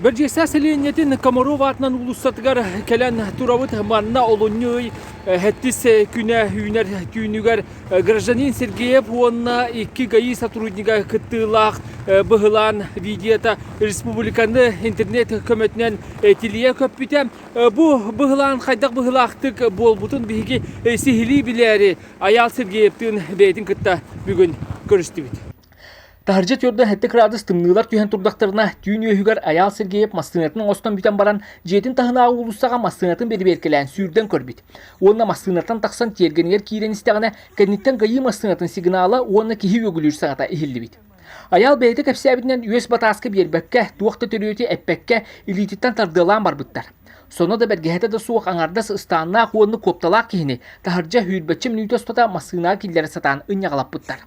Бэрдьиэстээх сэлиэнньэтин Комаров аатынан уулуссатыгар кэлэн турабыт. Манна олунньу ый эһэтис күнэ үүнэр түүнүгэр гражданин Сергеев уонна икки ГАИ сотруднига кыттыылаах быһылаан видеота республиканы интернет көмөтүнэн тилийэ көппүтэ. Бу быһылаан хайдах быһылаахтык буолбутун биһиги сиһилии билээри Айаал Сергеевтыын бэйэтин кытта бүгүн көрүстүбүт. Таһырдьа түөрдэ сэттэ кыраадыс тымныылар түһэн турдахтарына, түүн үөһүгэр Айаал Сергеев массыынатын оҥостон бүтэн баран, дьиэтин таһынааҕы уулуссаҕа массыынатын бэрэбиэркэлээн сүүрдэн көрбүт. Уонна массыынаттан тахсан тиэргэнигэр киирэн истэҕинэ, кэнниттэн Гайыы массыынатын сигнала уонна киһи үөгүлүүр саҕата иһиллибит. Айаал бэйэтэ кэпсээбитинэн үөс батааска биэрбэккэ, туох да төрүөтү эппэккэ, илиититтэн тардыалаан барбыттар. Сонно да бэргэһэтэ да суох аҥардас ыстааннаах уонна куопталаах киһини таһырдьа үүрбэччи мүнүүтэ устата массыынаҕа киллэрэ сатаан ынньаҕалаппыттар.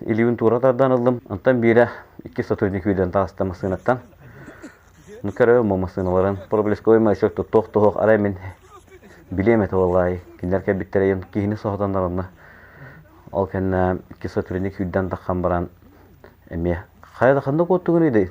Илиибин туура тардан ыллым. Онтон биирэ икки сотрудник үүнэн таҕыста массыынаттан. Ну, көрөбүн бу массыыналарын проблесковый маячок туттуох-туһуох арай мин билиэм этэ буоллаай. Кинилэр кэлбиттэрэ йон киһини соһутаннар онно. Ол кэннэ икки сотрудник үүнэн таххан баран эмиэ хайа да ханнык уоттугун идэй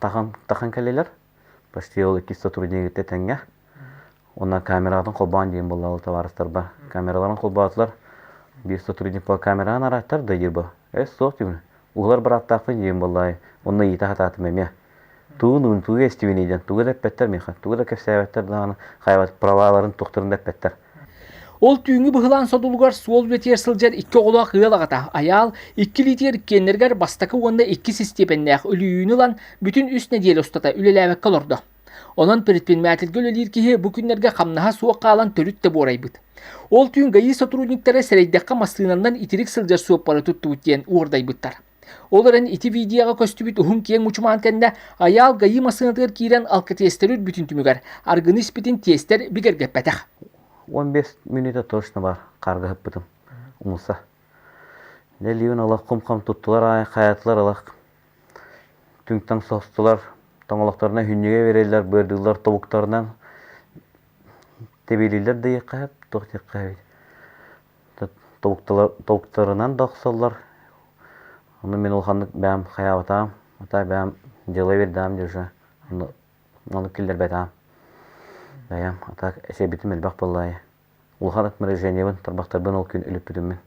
тахан тахан кэллилэр почти ол иккис сотруднигы тэтэҥҥэ уонна камератын холбоон диэн буоллалар табаарыстарба камераларын холбоотулар биир сотрудник по камераҕын арааттар да дирба эс суох дивн угулар быраттаахпын диэн буоллаай уонна иита хатаатым эмиэ тугун уун тугу эстибиний диэн тугу да эппэттэр миэхэ тугу да кэпсээбэттэр даҕаны хайбат праваларын тухтарын да эппэттэр Ол түүҥҥү быһылаан содулугар суол үлэтигэр сылдьар икки оҕолоох ыал аҕата Айаал икки литиэр иккиэннэригэр бастакы уонна икки систиэпэннээх өлүйүүнү ылан бүтүн үс нэдиэлэ устата үлэлээбэккэ олордо. Онон предпринимательгэ үлэлиир киһи бу күннэргэ хамнаһа суох хаалан төрүт да буорайбыт. Ол түүн ГАИ сотрудниктара сэрэйдэххэ массыынанан итирик сылдьар суоппары туттубут диэн уордайбыттар. Ол эрэн ити видеоҕа көстүбүт уһун киэҥ мучумаан кэннэ Айаал Гайыы массыынатыгар киирэн алкотестеры үрбүтүн түмүгэр аргыны испитин тестэр бигэргэппэтэх. Уон биэс мүнүүтэ точно бар харга ыһыппытым умулса. Нэлиюн ылах кум-хам туттулар аайы хайатылар ылах түҥтаҥ состулар тоҥолохторуна хүнньүгэ береллер быардыыллар тобуктарынан тэбиилииллэр да иэххэ туох диэххэ тобуктарынан да охсоллор ону мин улаханнык бэйэм хайаабатаҕым атаа бэйэм дьыала биэрдэҕим дии уже аны киллэрбэтэҕим бэйэм а так эсэйбитим элбэх буолла аайы улахан ат морожениебын тарбахтарбын ол күн өлүппүтүм мин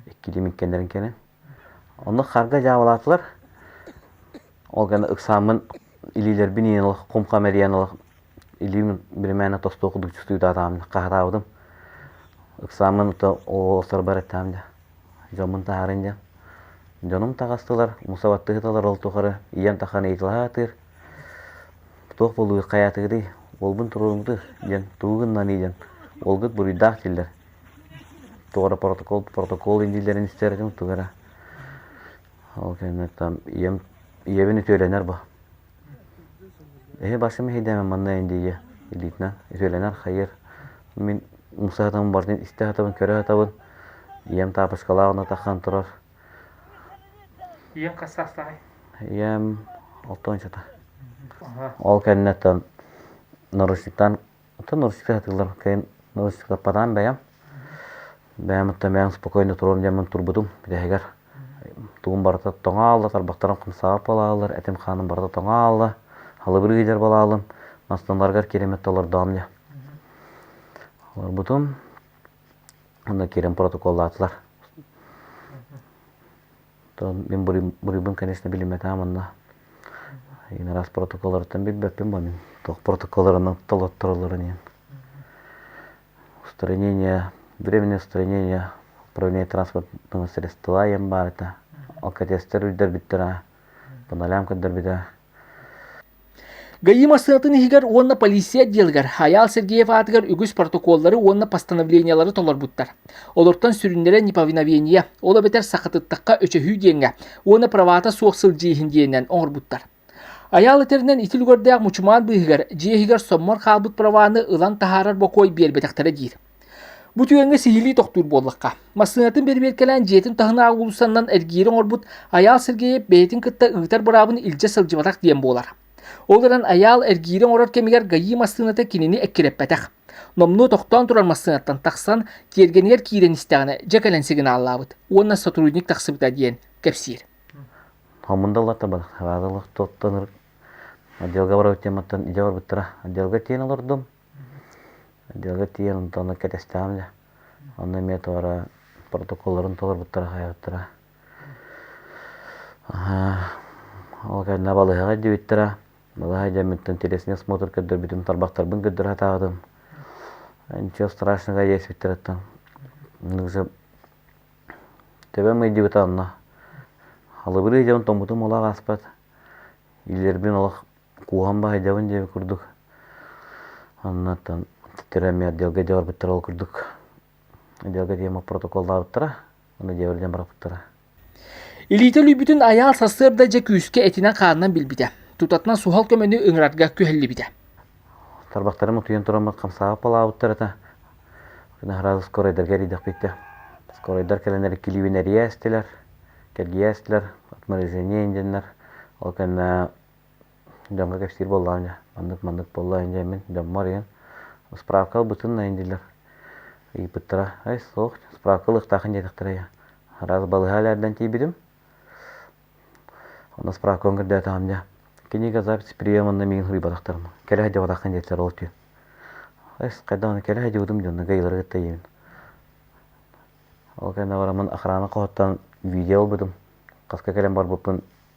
иккилиим иккиэннэрин кэнэн Онно харга дьаабалаатылар. Ол гана ыксааммын илиилэрбин иэн ылах, кум-хам эрийэн ылах, илиим биримээнэ тостуоку дьулчутуйдаатаҕым дьэ хаһатаабытым. Ыксааммын то ололлоохторбор эттэҕим дьэ, дьоммун таһаарыҥ диэн. Дьонум таҕыстылар, муса баттыһыталар ол тухары ийэм тахан ыйыталаһа сатыыр, туох буолуой хайаатыгытый, уолбун туруоруҥтуй диэн тугу гыннаный диэн, уолгут буруйдаах дииллэр. Туох эрэ протокол протокол индиилэрин истэр этим тугу эрэ ол кэнниттэн там ийэм ийэбин үтүөлэнэр бо эһи басым иһидээмэ манна индийэ илиитинэн үтүөлэнэр хайыар мин муса сатабын барытын истэ сатабын көрө сатабын ийэм таапыскалаах онно тахсан турар ийэм хас саастааҕый ийэм алта уончата ол кэнниттэн наручниктан Оттон налысыка сатыыллар кэлин налысыкпанаан бэйэм. Бэйэм оттон бэйэм спокойно туруом диэн мин турбутум бүтэһигэр тугум барыта тоҥаалла, тарбахтарым хамсаабат буолааллар, этим-хааным барыта тоҥаалла, халыбыр иһигэр буолааллар, мастанларыгар кириэмэттэ олордоҕум диэн. Олорбутум, онно киирэн протоколлаатылар. то мин буруйбун конечно билимэтаам онно иин араас протоколларыттан билбэппин бо мин туох протоколларынан толоттороллорун иһин устранение временное устранение управление транспортного средства ем баарыта алкотестер үрдэрбиттэрэ буналям көддөрбүтэ ГАИ массыынатын иһигэр уонна полиция отделыгар Айаал Сергеев аатыгар үгүс протоколлары уонна постановлениелары толорбуттар. Олортон сүрүннэрэ неповиновение, ол эбэтэр сахатыттахха өчөһүү диэҥҥэ уонна правата суох сылдьыы иһин диэнинэн оҥорбуттар. Айаал этэринэн ити үлүгэрдээх мучумаан быыһыгар дьиэ иһигэр соммор хаалбыт праваны ылан таһаарар бокуой биэрбэтэхтэрэ диир. Бу түгэҥҥэ сиһилии тохтуур буоллахха, массыынатын бэрэбиэркэлээн дьиэтин таһынааҕы уулуссанан эргийири оҥорбут Айаал Сергеев бэйэтин кытта ыытар быраабын илдьэ сылдьыбатах диэн буолар. Ол эрэн Айаал эргиири оҥорор кэмигэр ГАИ массыыната кинини эккирэппэтэх. Номнуо тохтоон турар массыынаттан тахсан, тиэргэнигэр киирэн истэҕинэ дьэ кэлэн сигналлаабыт уонна сотрудник тахсыбыта диэн кэпсиир. Хомунда олортобар хараада олохтоттонор отделга барбыт тематтан идэ барбыттара отделга киэн олордум Дьиэҕэ тиийэн онтон кэтэстэҕим дьэ онно эмиэ туора протоколларын толорбуттара хаайбыттара ол кэннэ балыыһаҕа иддийбиттэрэ балыыһа дьэммиттэн телесный осмотр көрдөрбүтүм тарбахтарбын көрдөрө сатаабытым ничего страшного диэбиттэриттэн төбөм ыйдьыбыта онно халыбырыы дьэм тоҥмутум олох ааспат илиилэрбин олох кууһан баһыйдабын диэбит курдук оннуттан титтэрэ эмиэ отделга дьэ барбыттара ол курдук отделга диэм протоколлаабыттара аны дьиэбэр диэн барбыттара илиитэ өлүйбүтүн айаал сарсыарда дьэ күүскэ этинэн-хаанынан билбитэ тутатынан суһал көмөнү ыҥырарга күһэллибитэ тарбахтарым утуйан туран хамсаабап балаабыттар этэ наһараа скоройдарга эрийдэхпиттэ скоройдар кэлэнэр килиибин эрийээстилэр кэргийээстилэр от морозения диэннэр ол кэннэ дьоҥҥо кэпсиир буоллаҕым дьэ маннык маннык буолла ин дьэ мин дьоммор иһэн справка ылбытын айан дииллэр ыйыппыттара ай суох справка ылыахтаахын диэтэхтэрэ араас балыһа элээрдэн тиийбитим онно справкабын көрдөөтөҕүм дьэ книга запись приеманна миигин суруйбатахтарым кэлэ сылдьыбатаххын диэттэр ол түүн эс хайдах кэлэ сылдьыбытым дьонно гайылары кытта ийэбин ол кэннэ бараммын охрана хоһуттан видео ылбытым хаска кэлэн барбыппын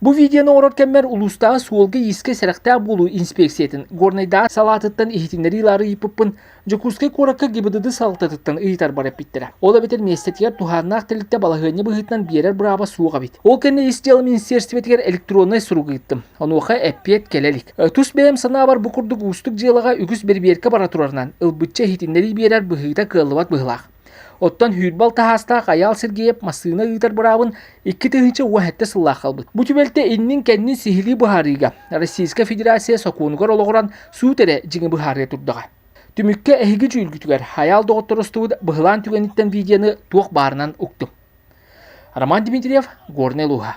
Бу видеону оҥорор кэммэр улуустааҕы суолга-иискэ сэрэхтээх буолуу инспиэксийэтин Горнайдааҕы салаатыттан иһитиннэрии ылаары ыйыппыппын, Дьокуускай куоракка ГИБДД салалтатыттан ыйытарбар эппиттэрэ. Ол эбэтэр миэстэтигэр туһааннаах тэрилтэ балаһыанньа быһыытынан биэрэр бырааба суох эбит. Ол кэннэ ис дьыала министиэристибэтигэр электроннай сурук ыыттым. Онуоха эппиэт кэлэ илик. Тус бэйэм санаабар бу курдук уустук дьыалаҕа үгүс бэрибиэркэ бара турарынан, ылбычча иһитиннэрии биэрэр быһыыта кыаллыбат быһыылаах. Оттон Хүүрбал таһаастаах Айаал Сергеев массыына ыытар быраабын икки тыһыынча уон сэттэ сыллаах хаалбыт. Бу түбэлтэ иннин-кэннин сиһилии быһаарыыга Российскай Федерация сокуонугар олоҕуран суут эрэ дьиҥи быһаарыа турдаҕа. Түмүккэ эһиги дьүүлгүтүгэр Хайаал доҕотторустубут быһылаан түгэниттэн видеоны туох баарынан уктум. Роман Дмитриев, Горнай улууһа.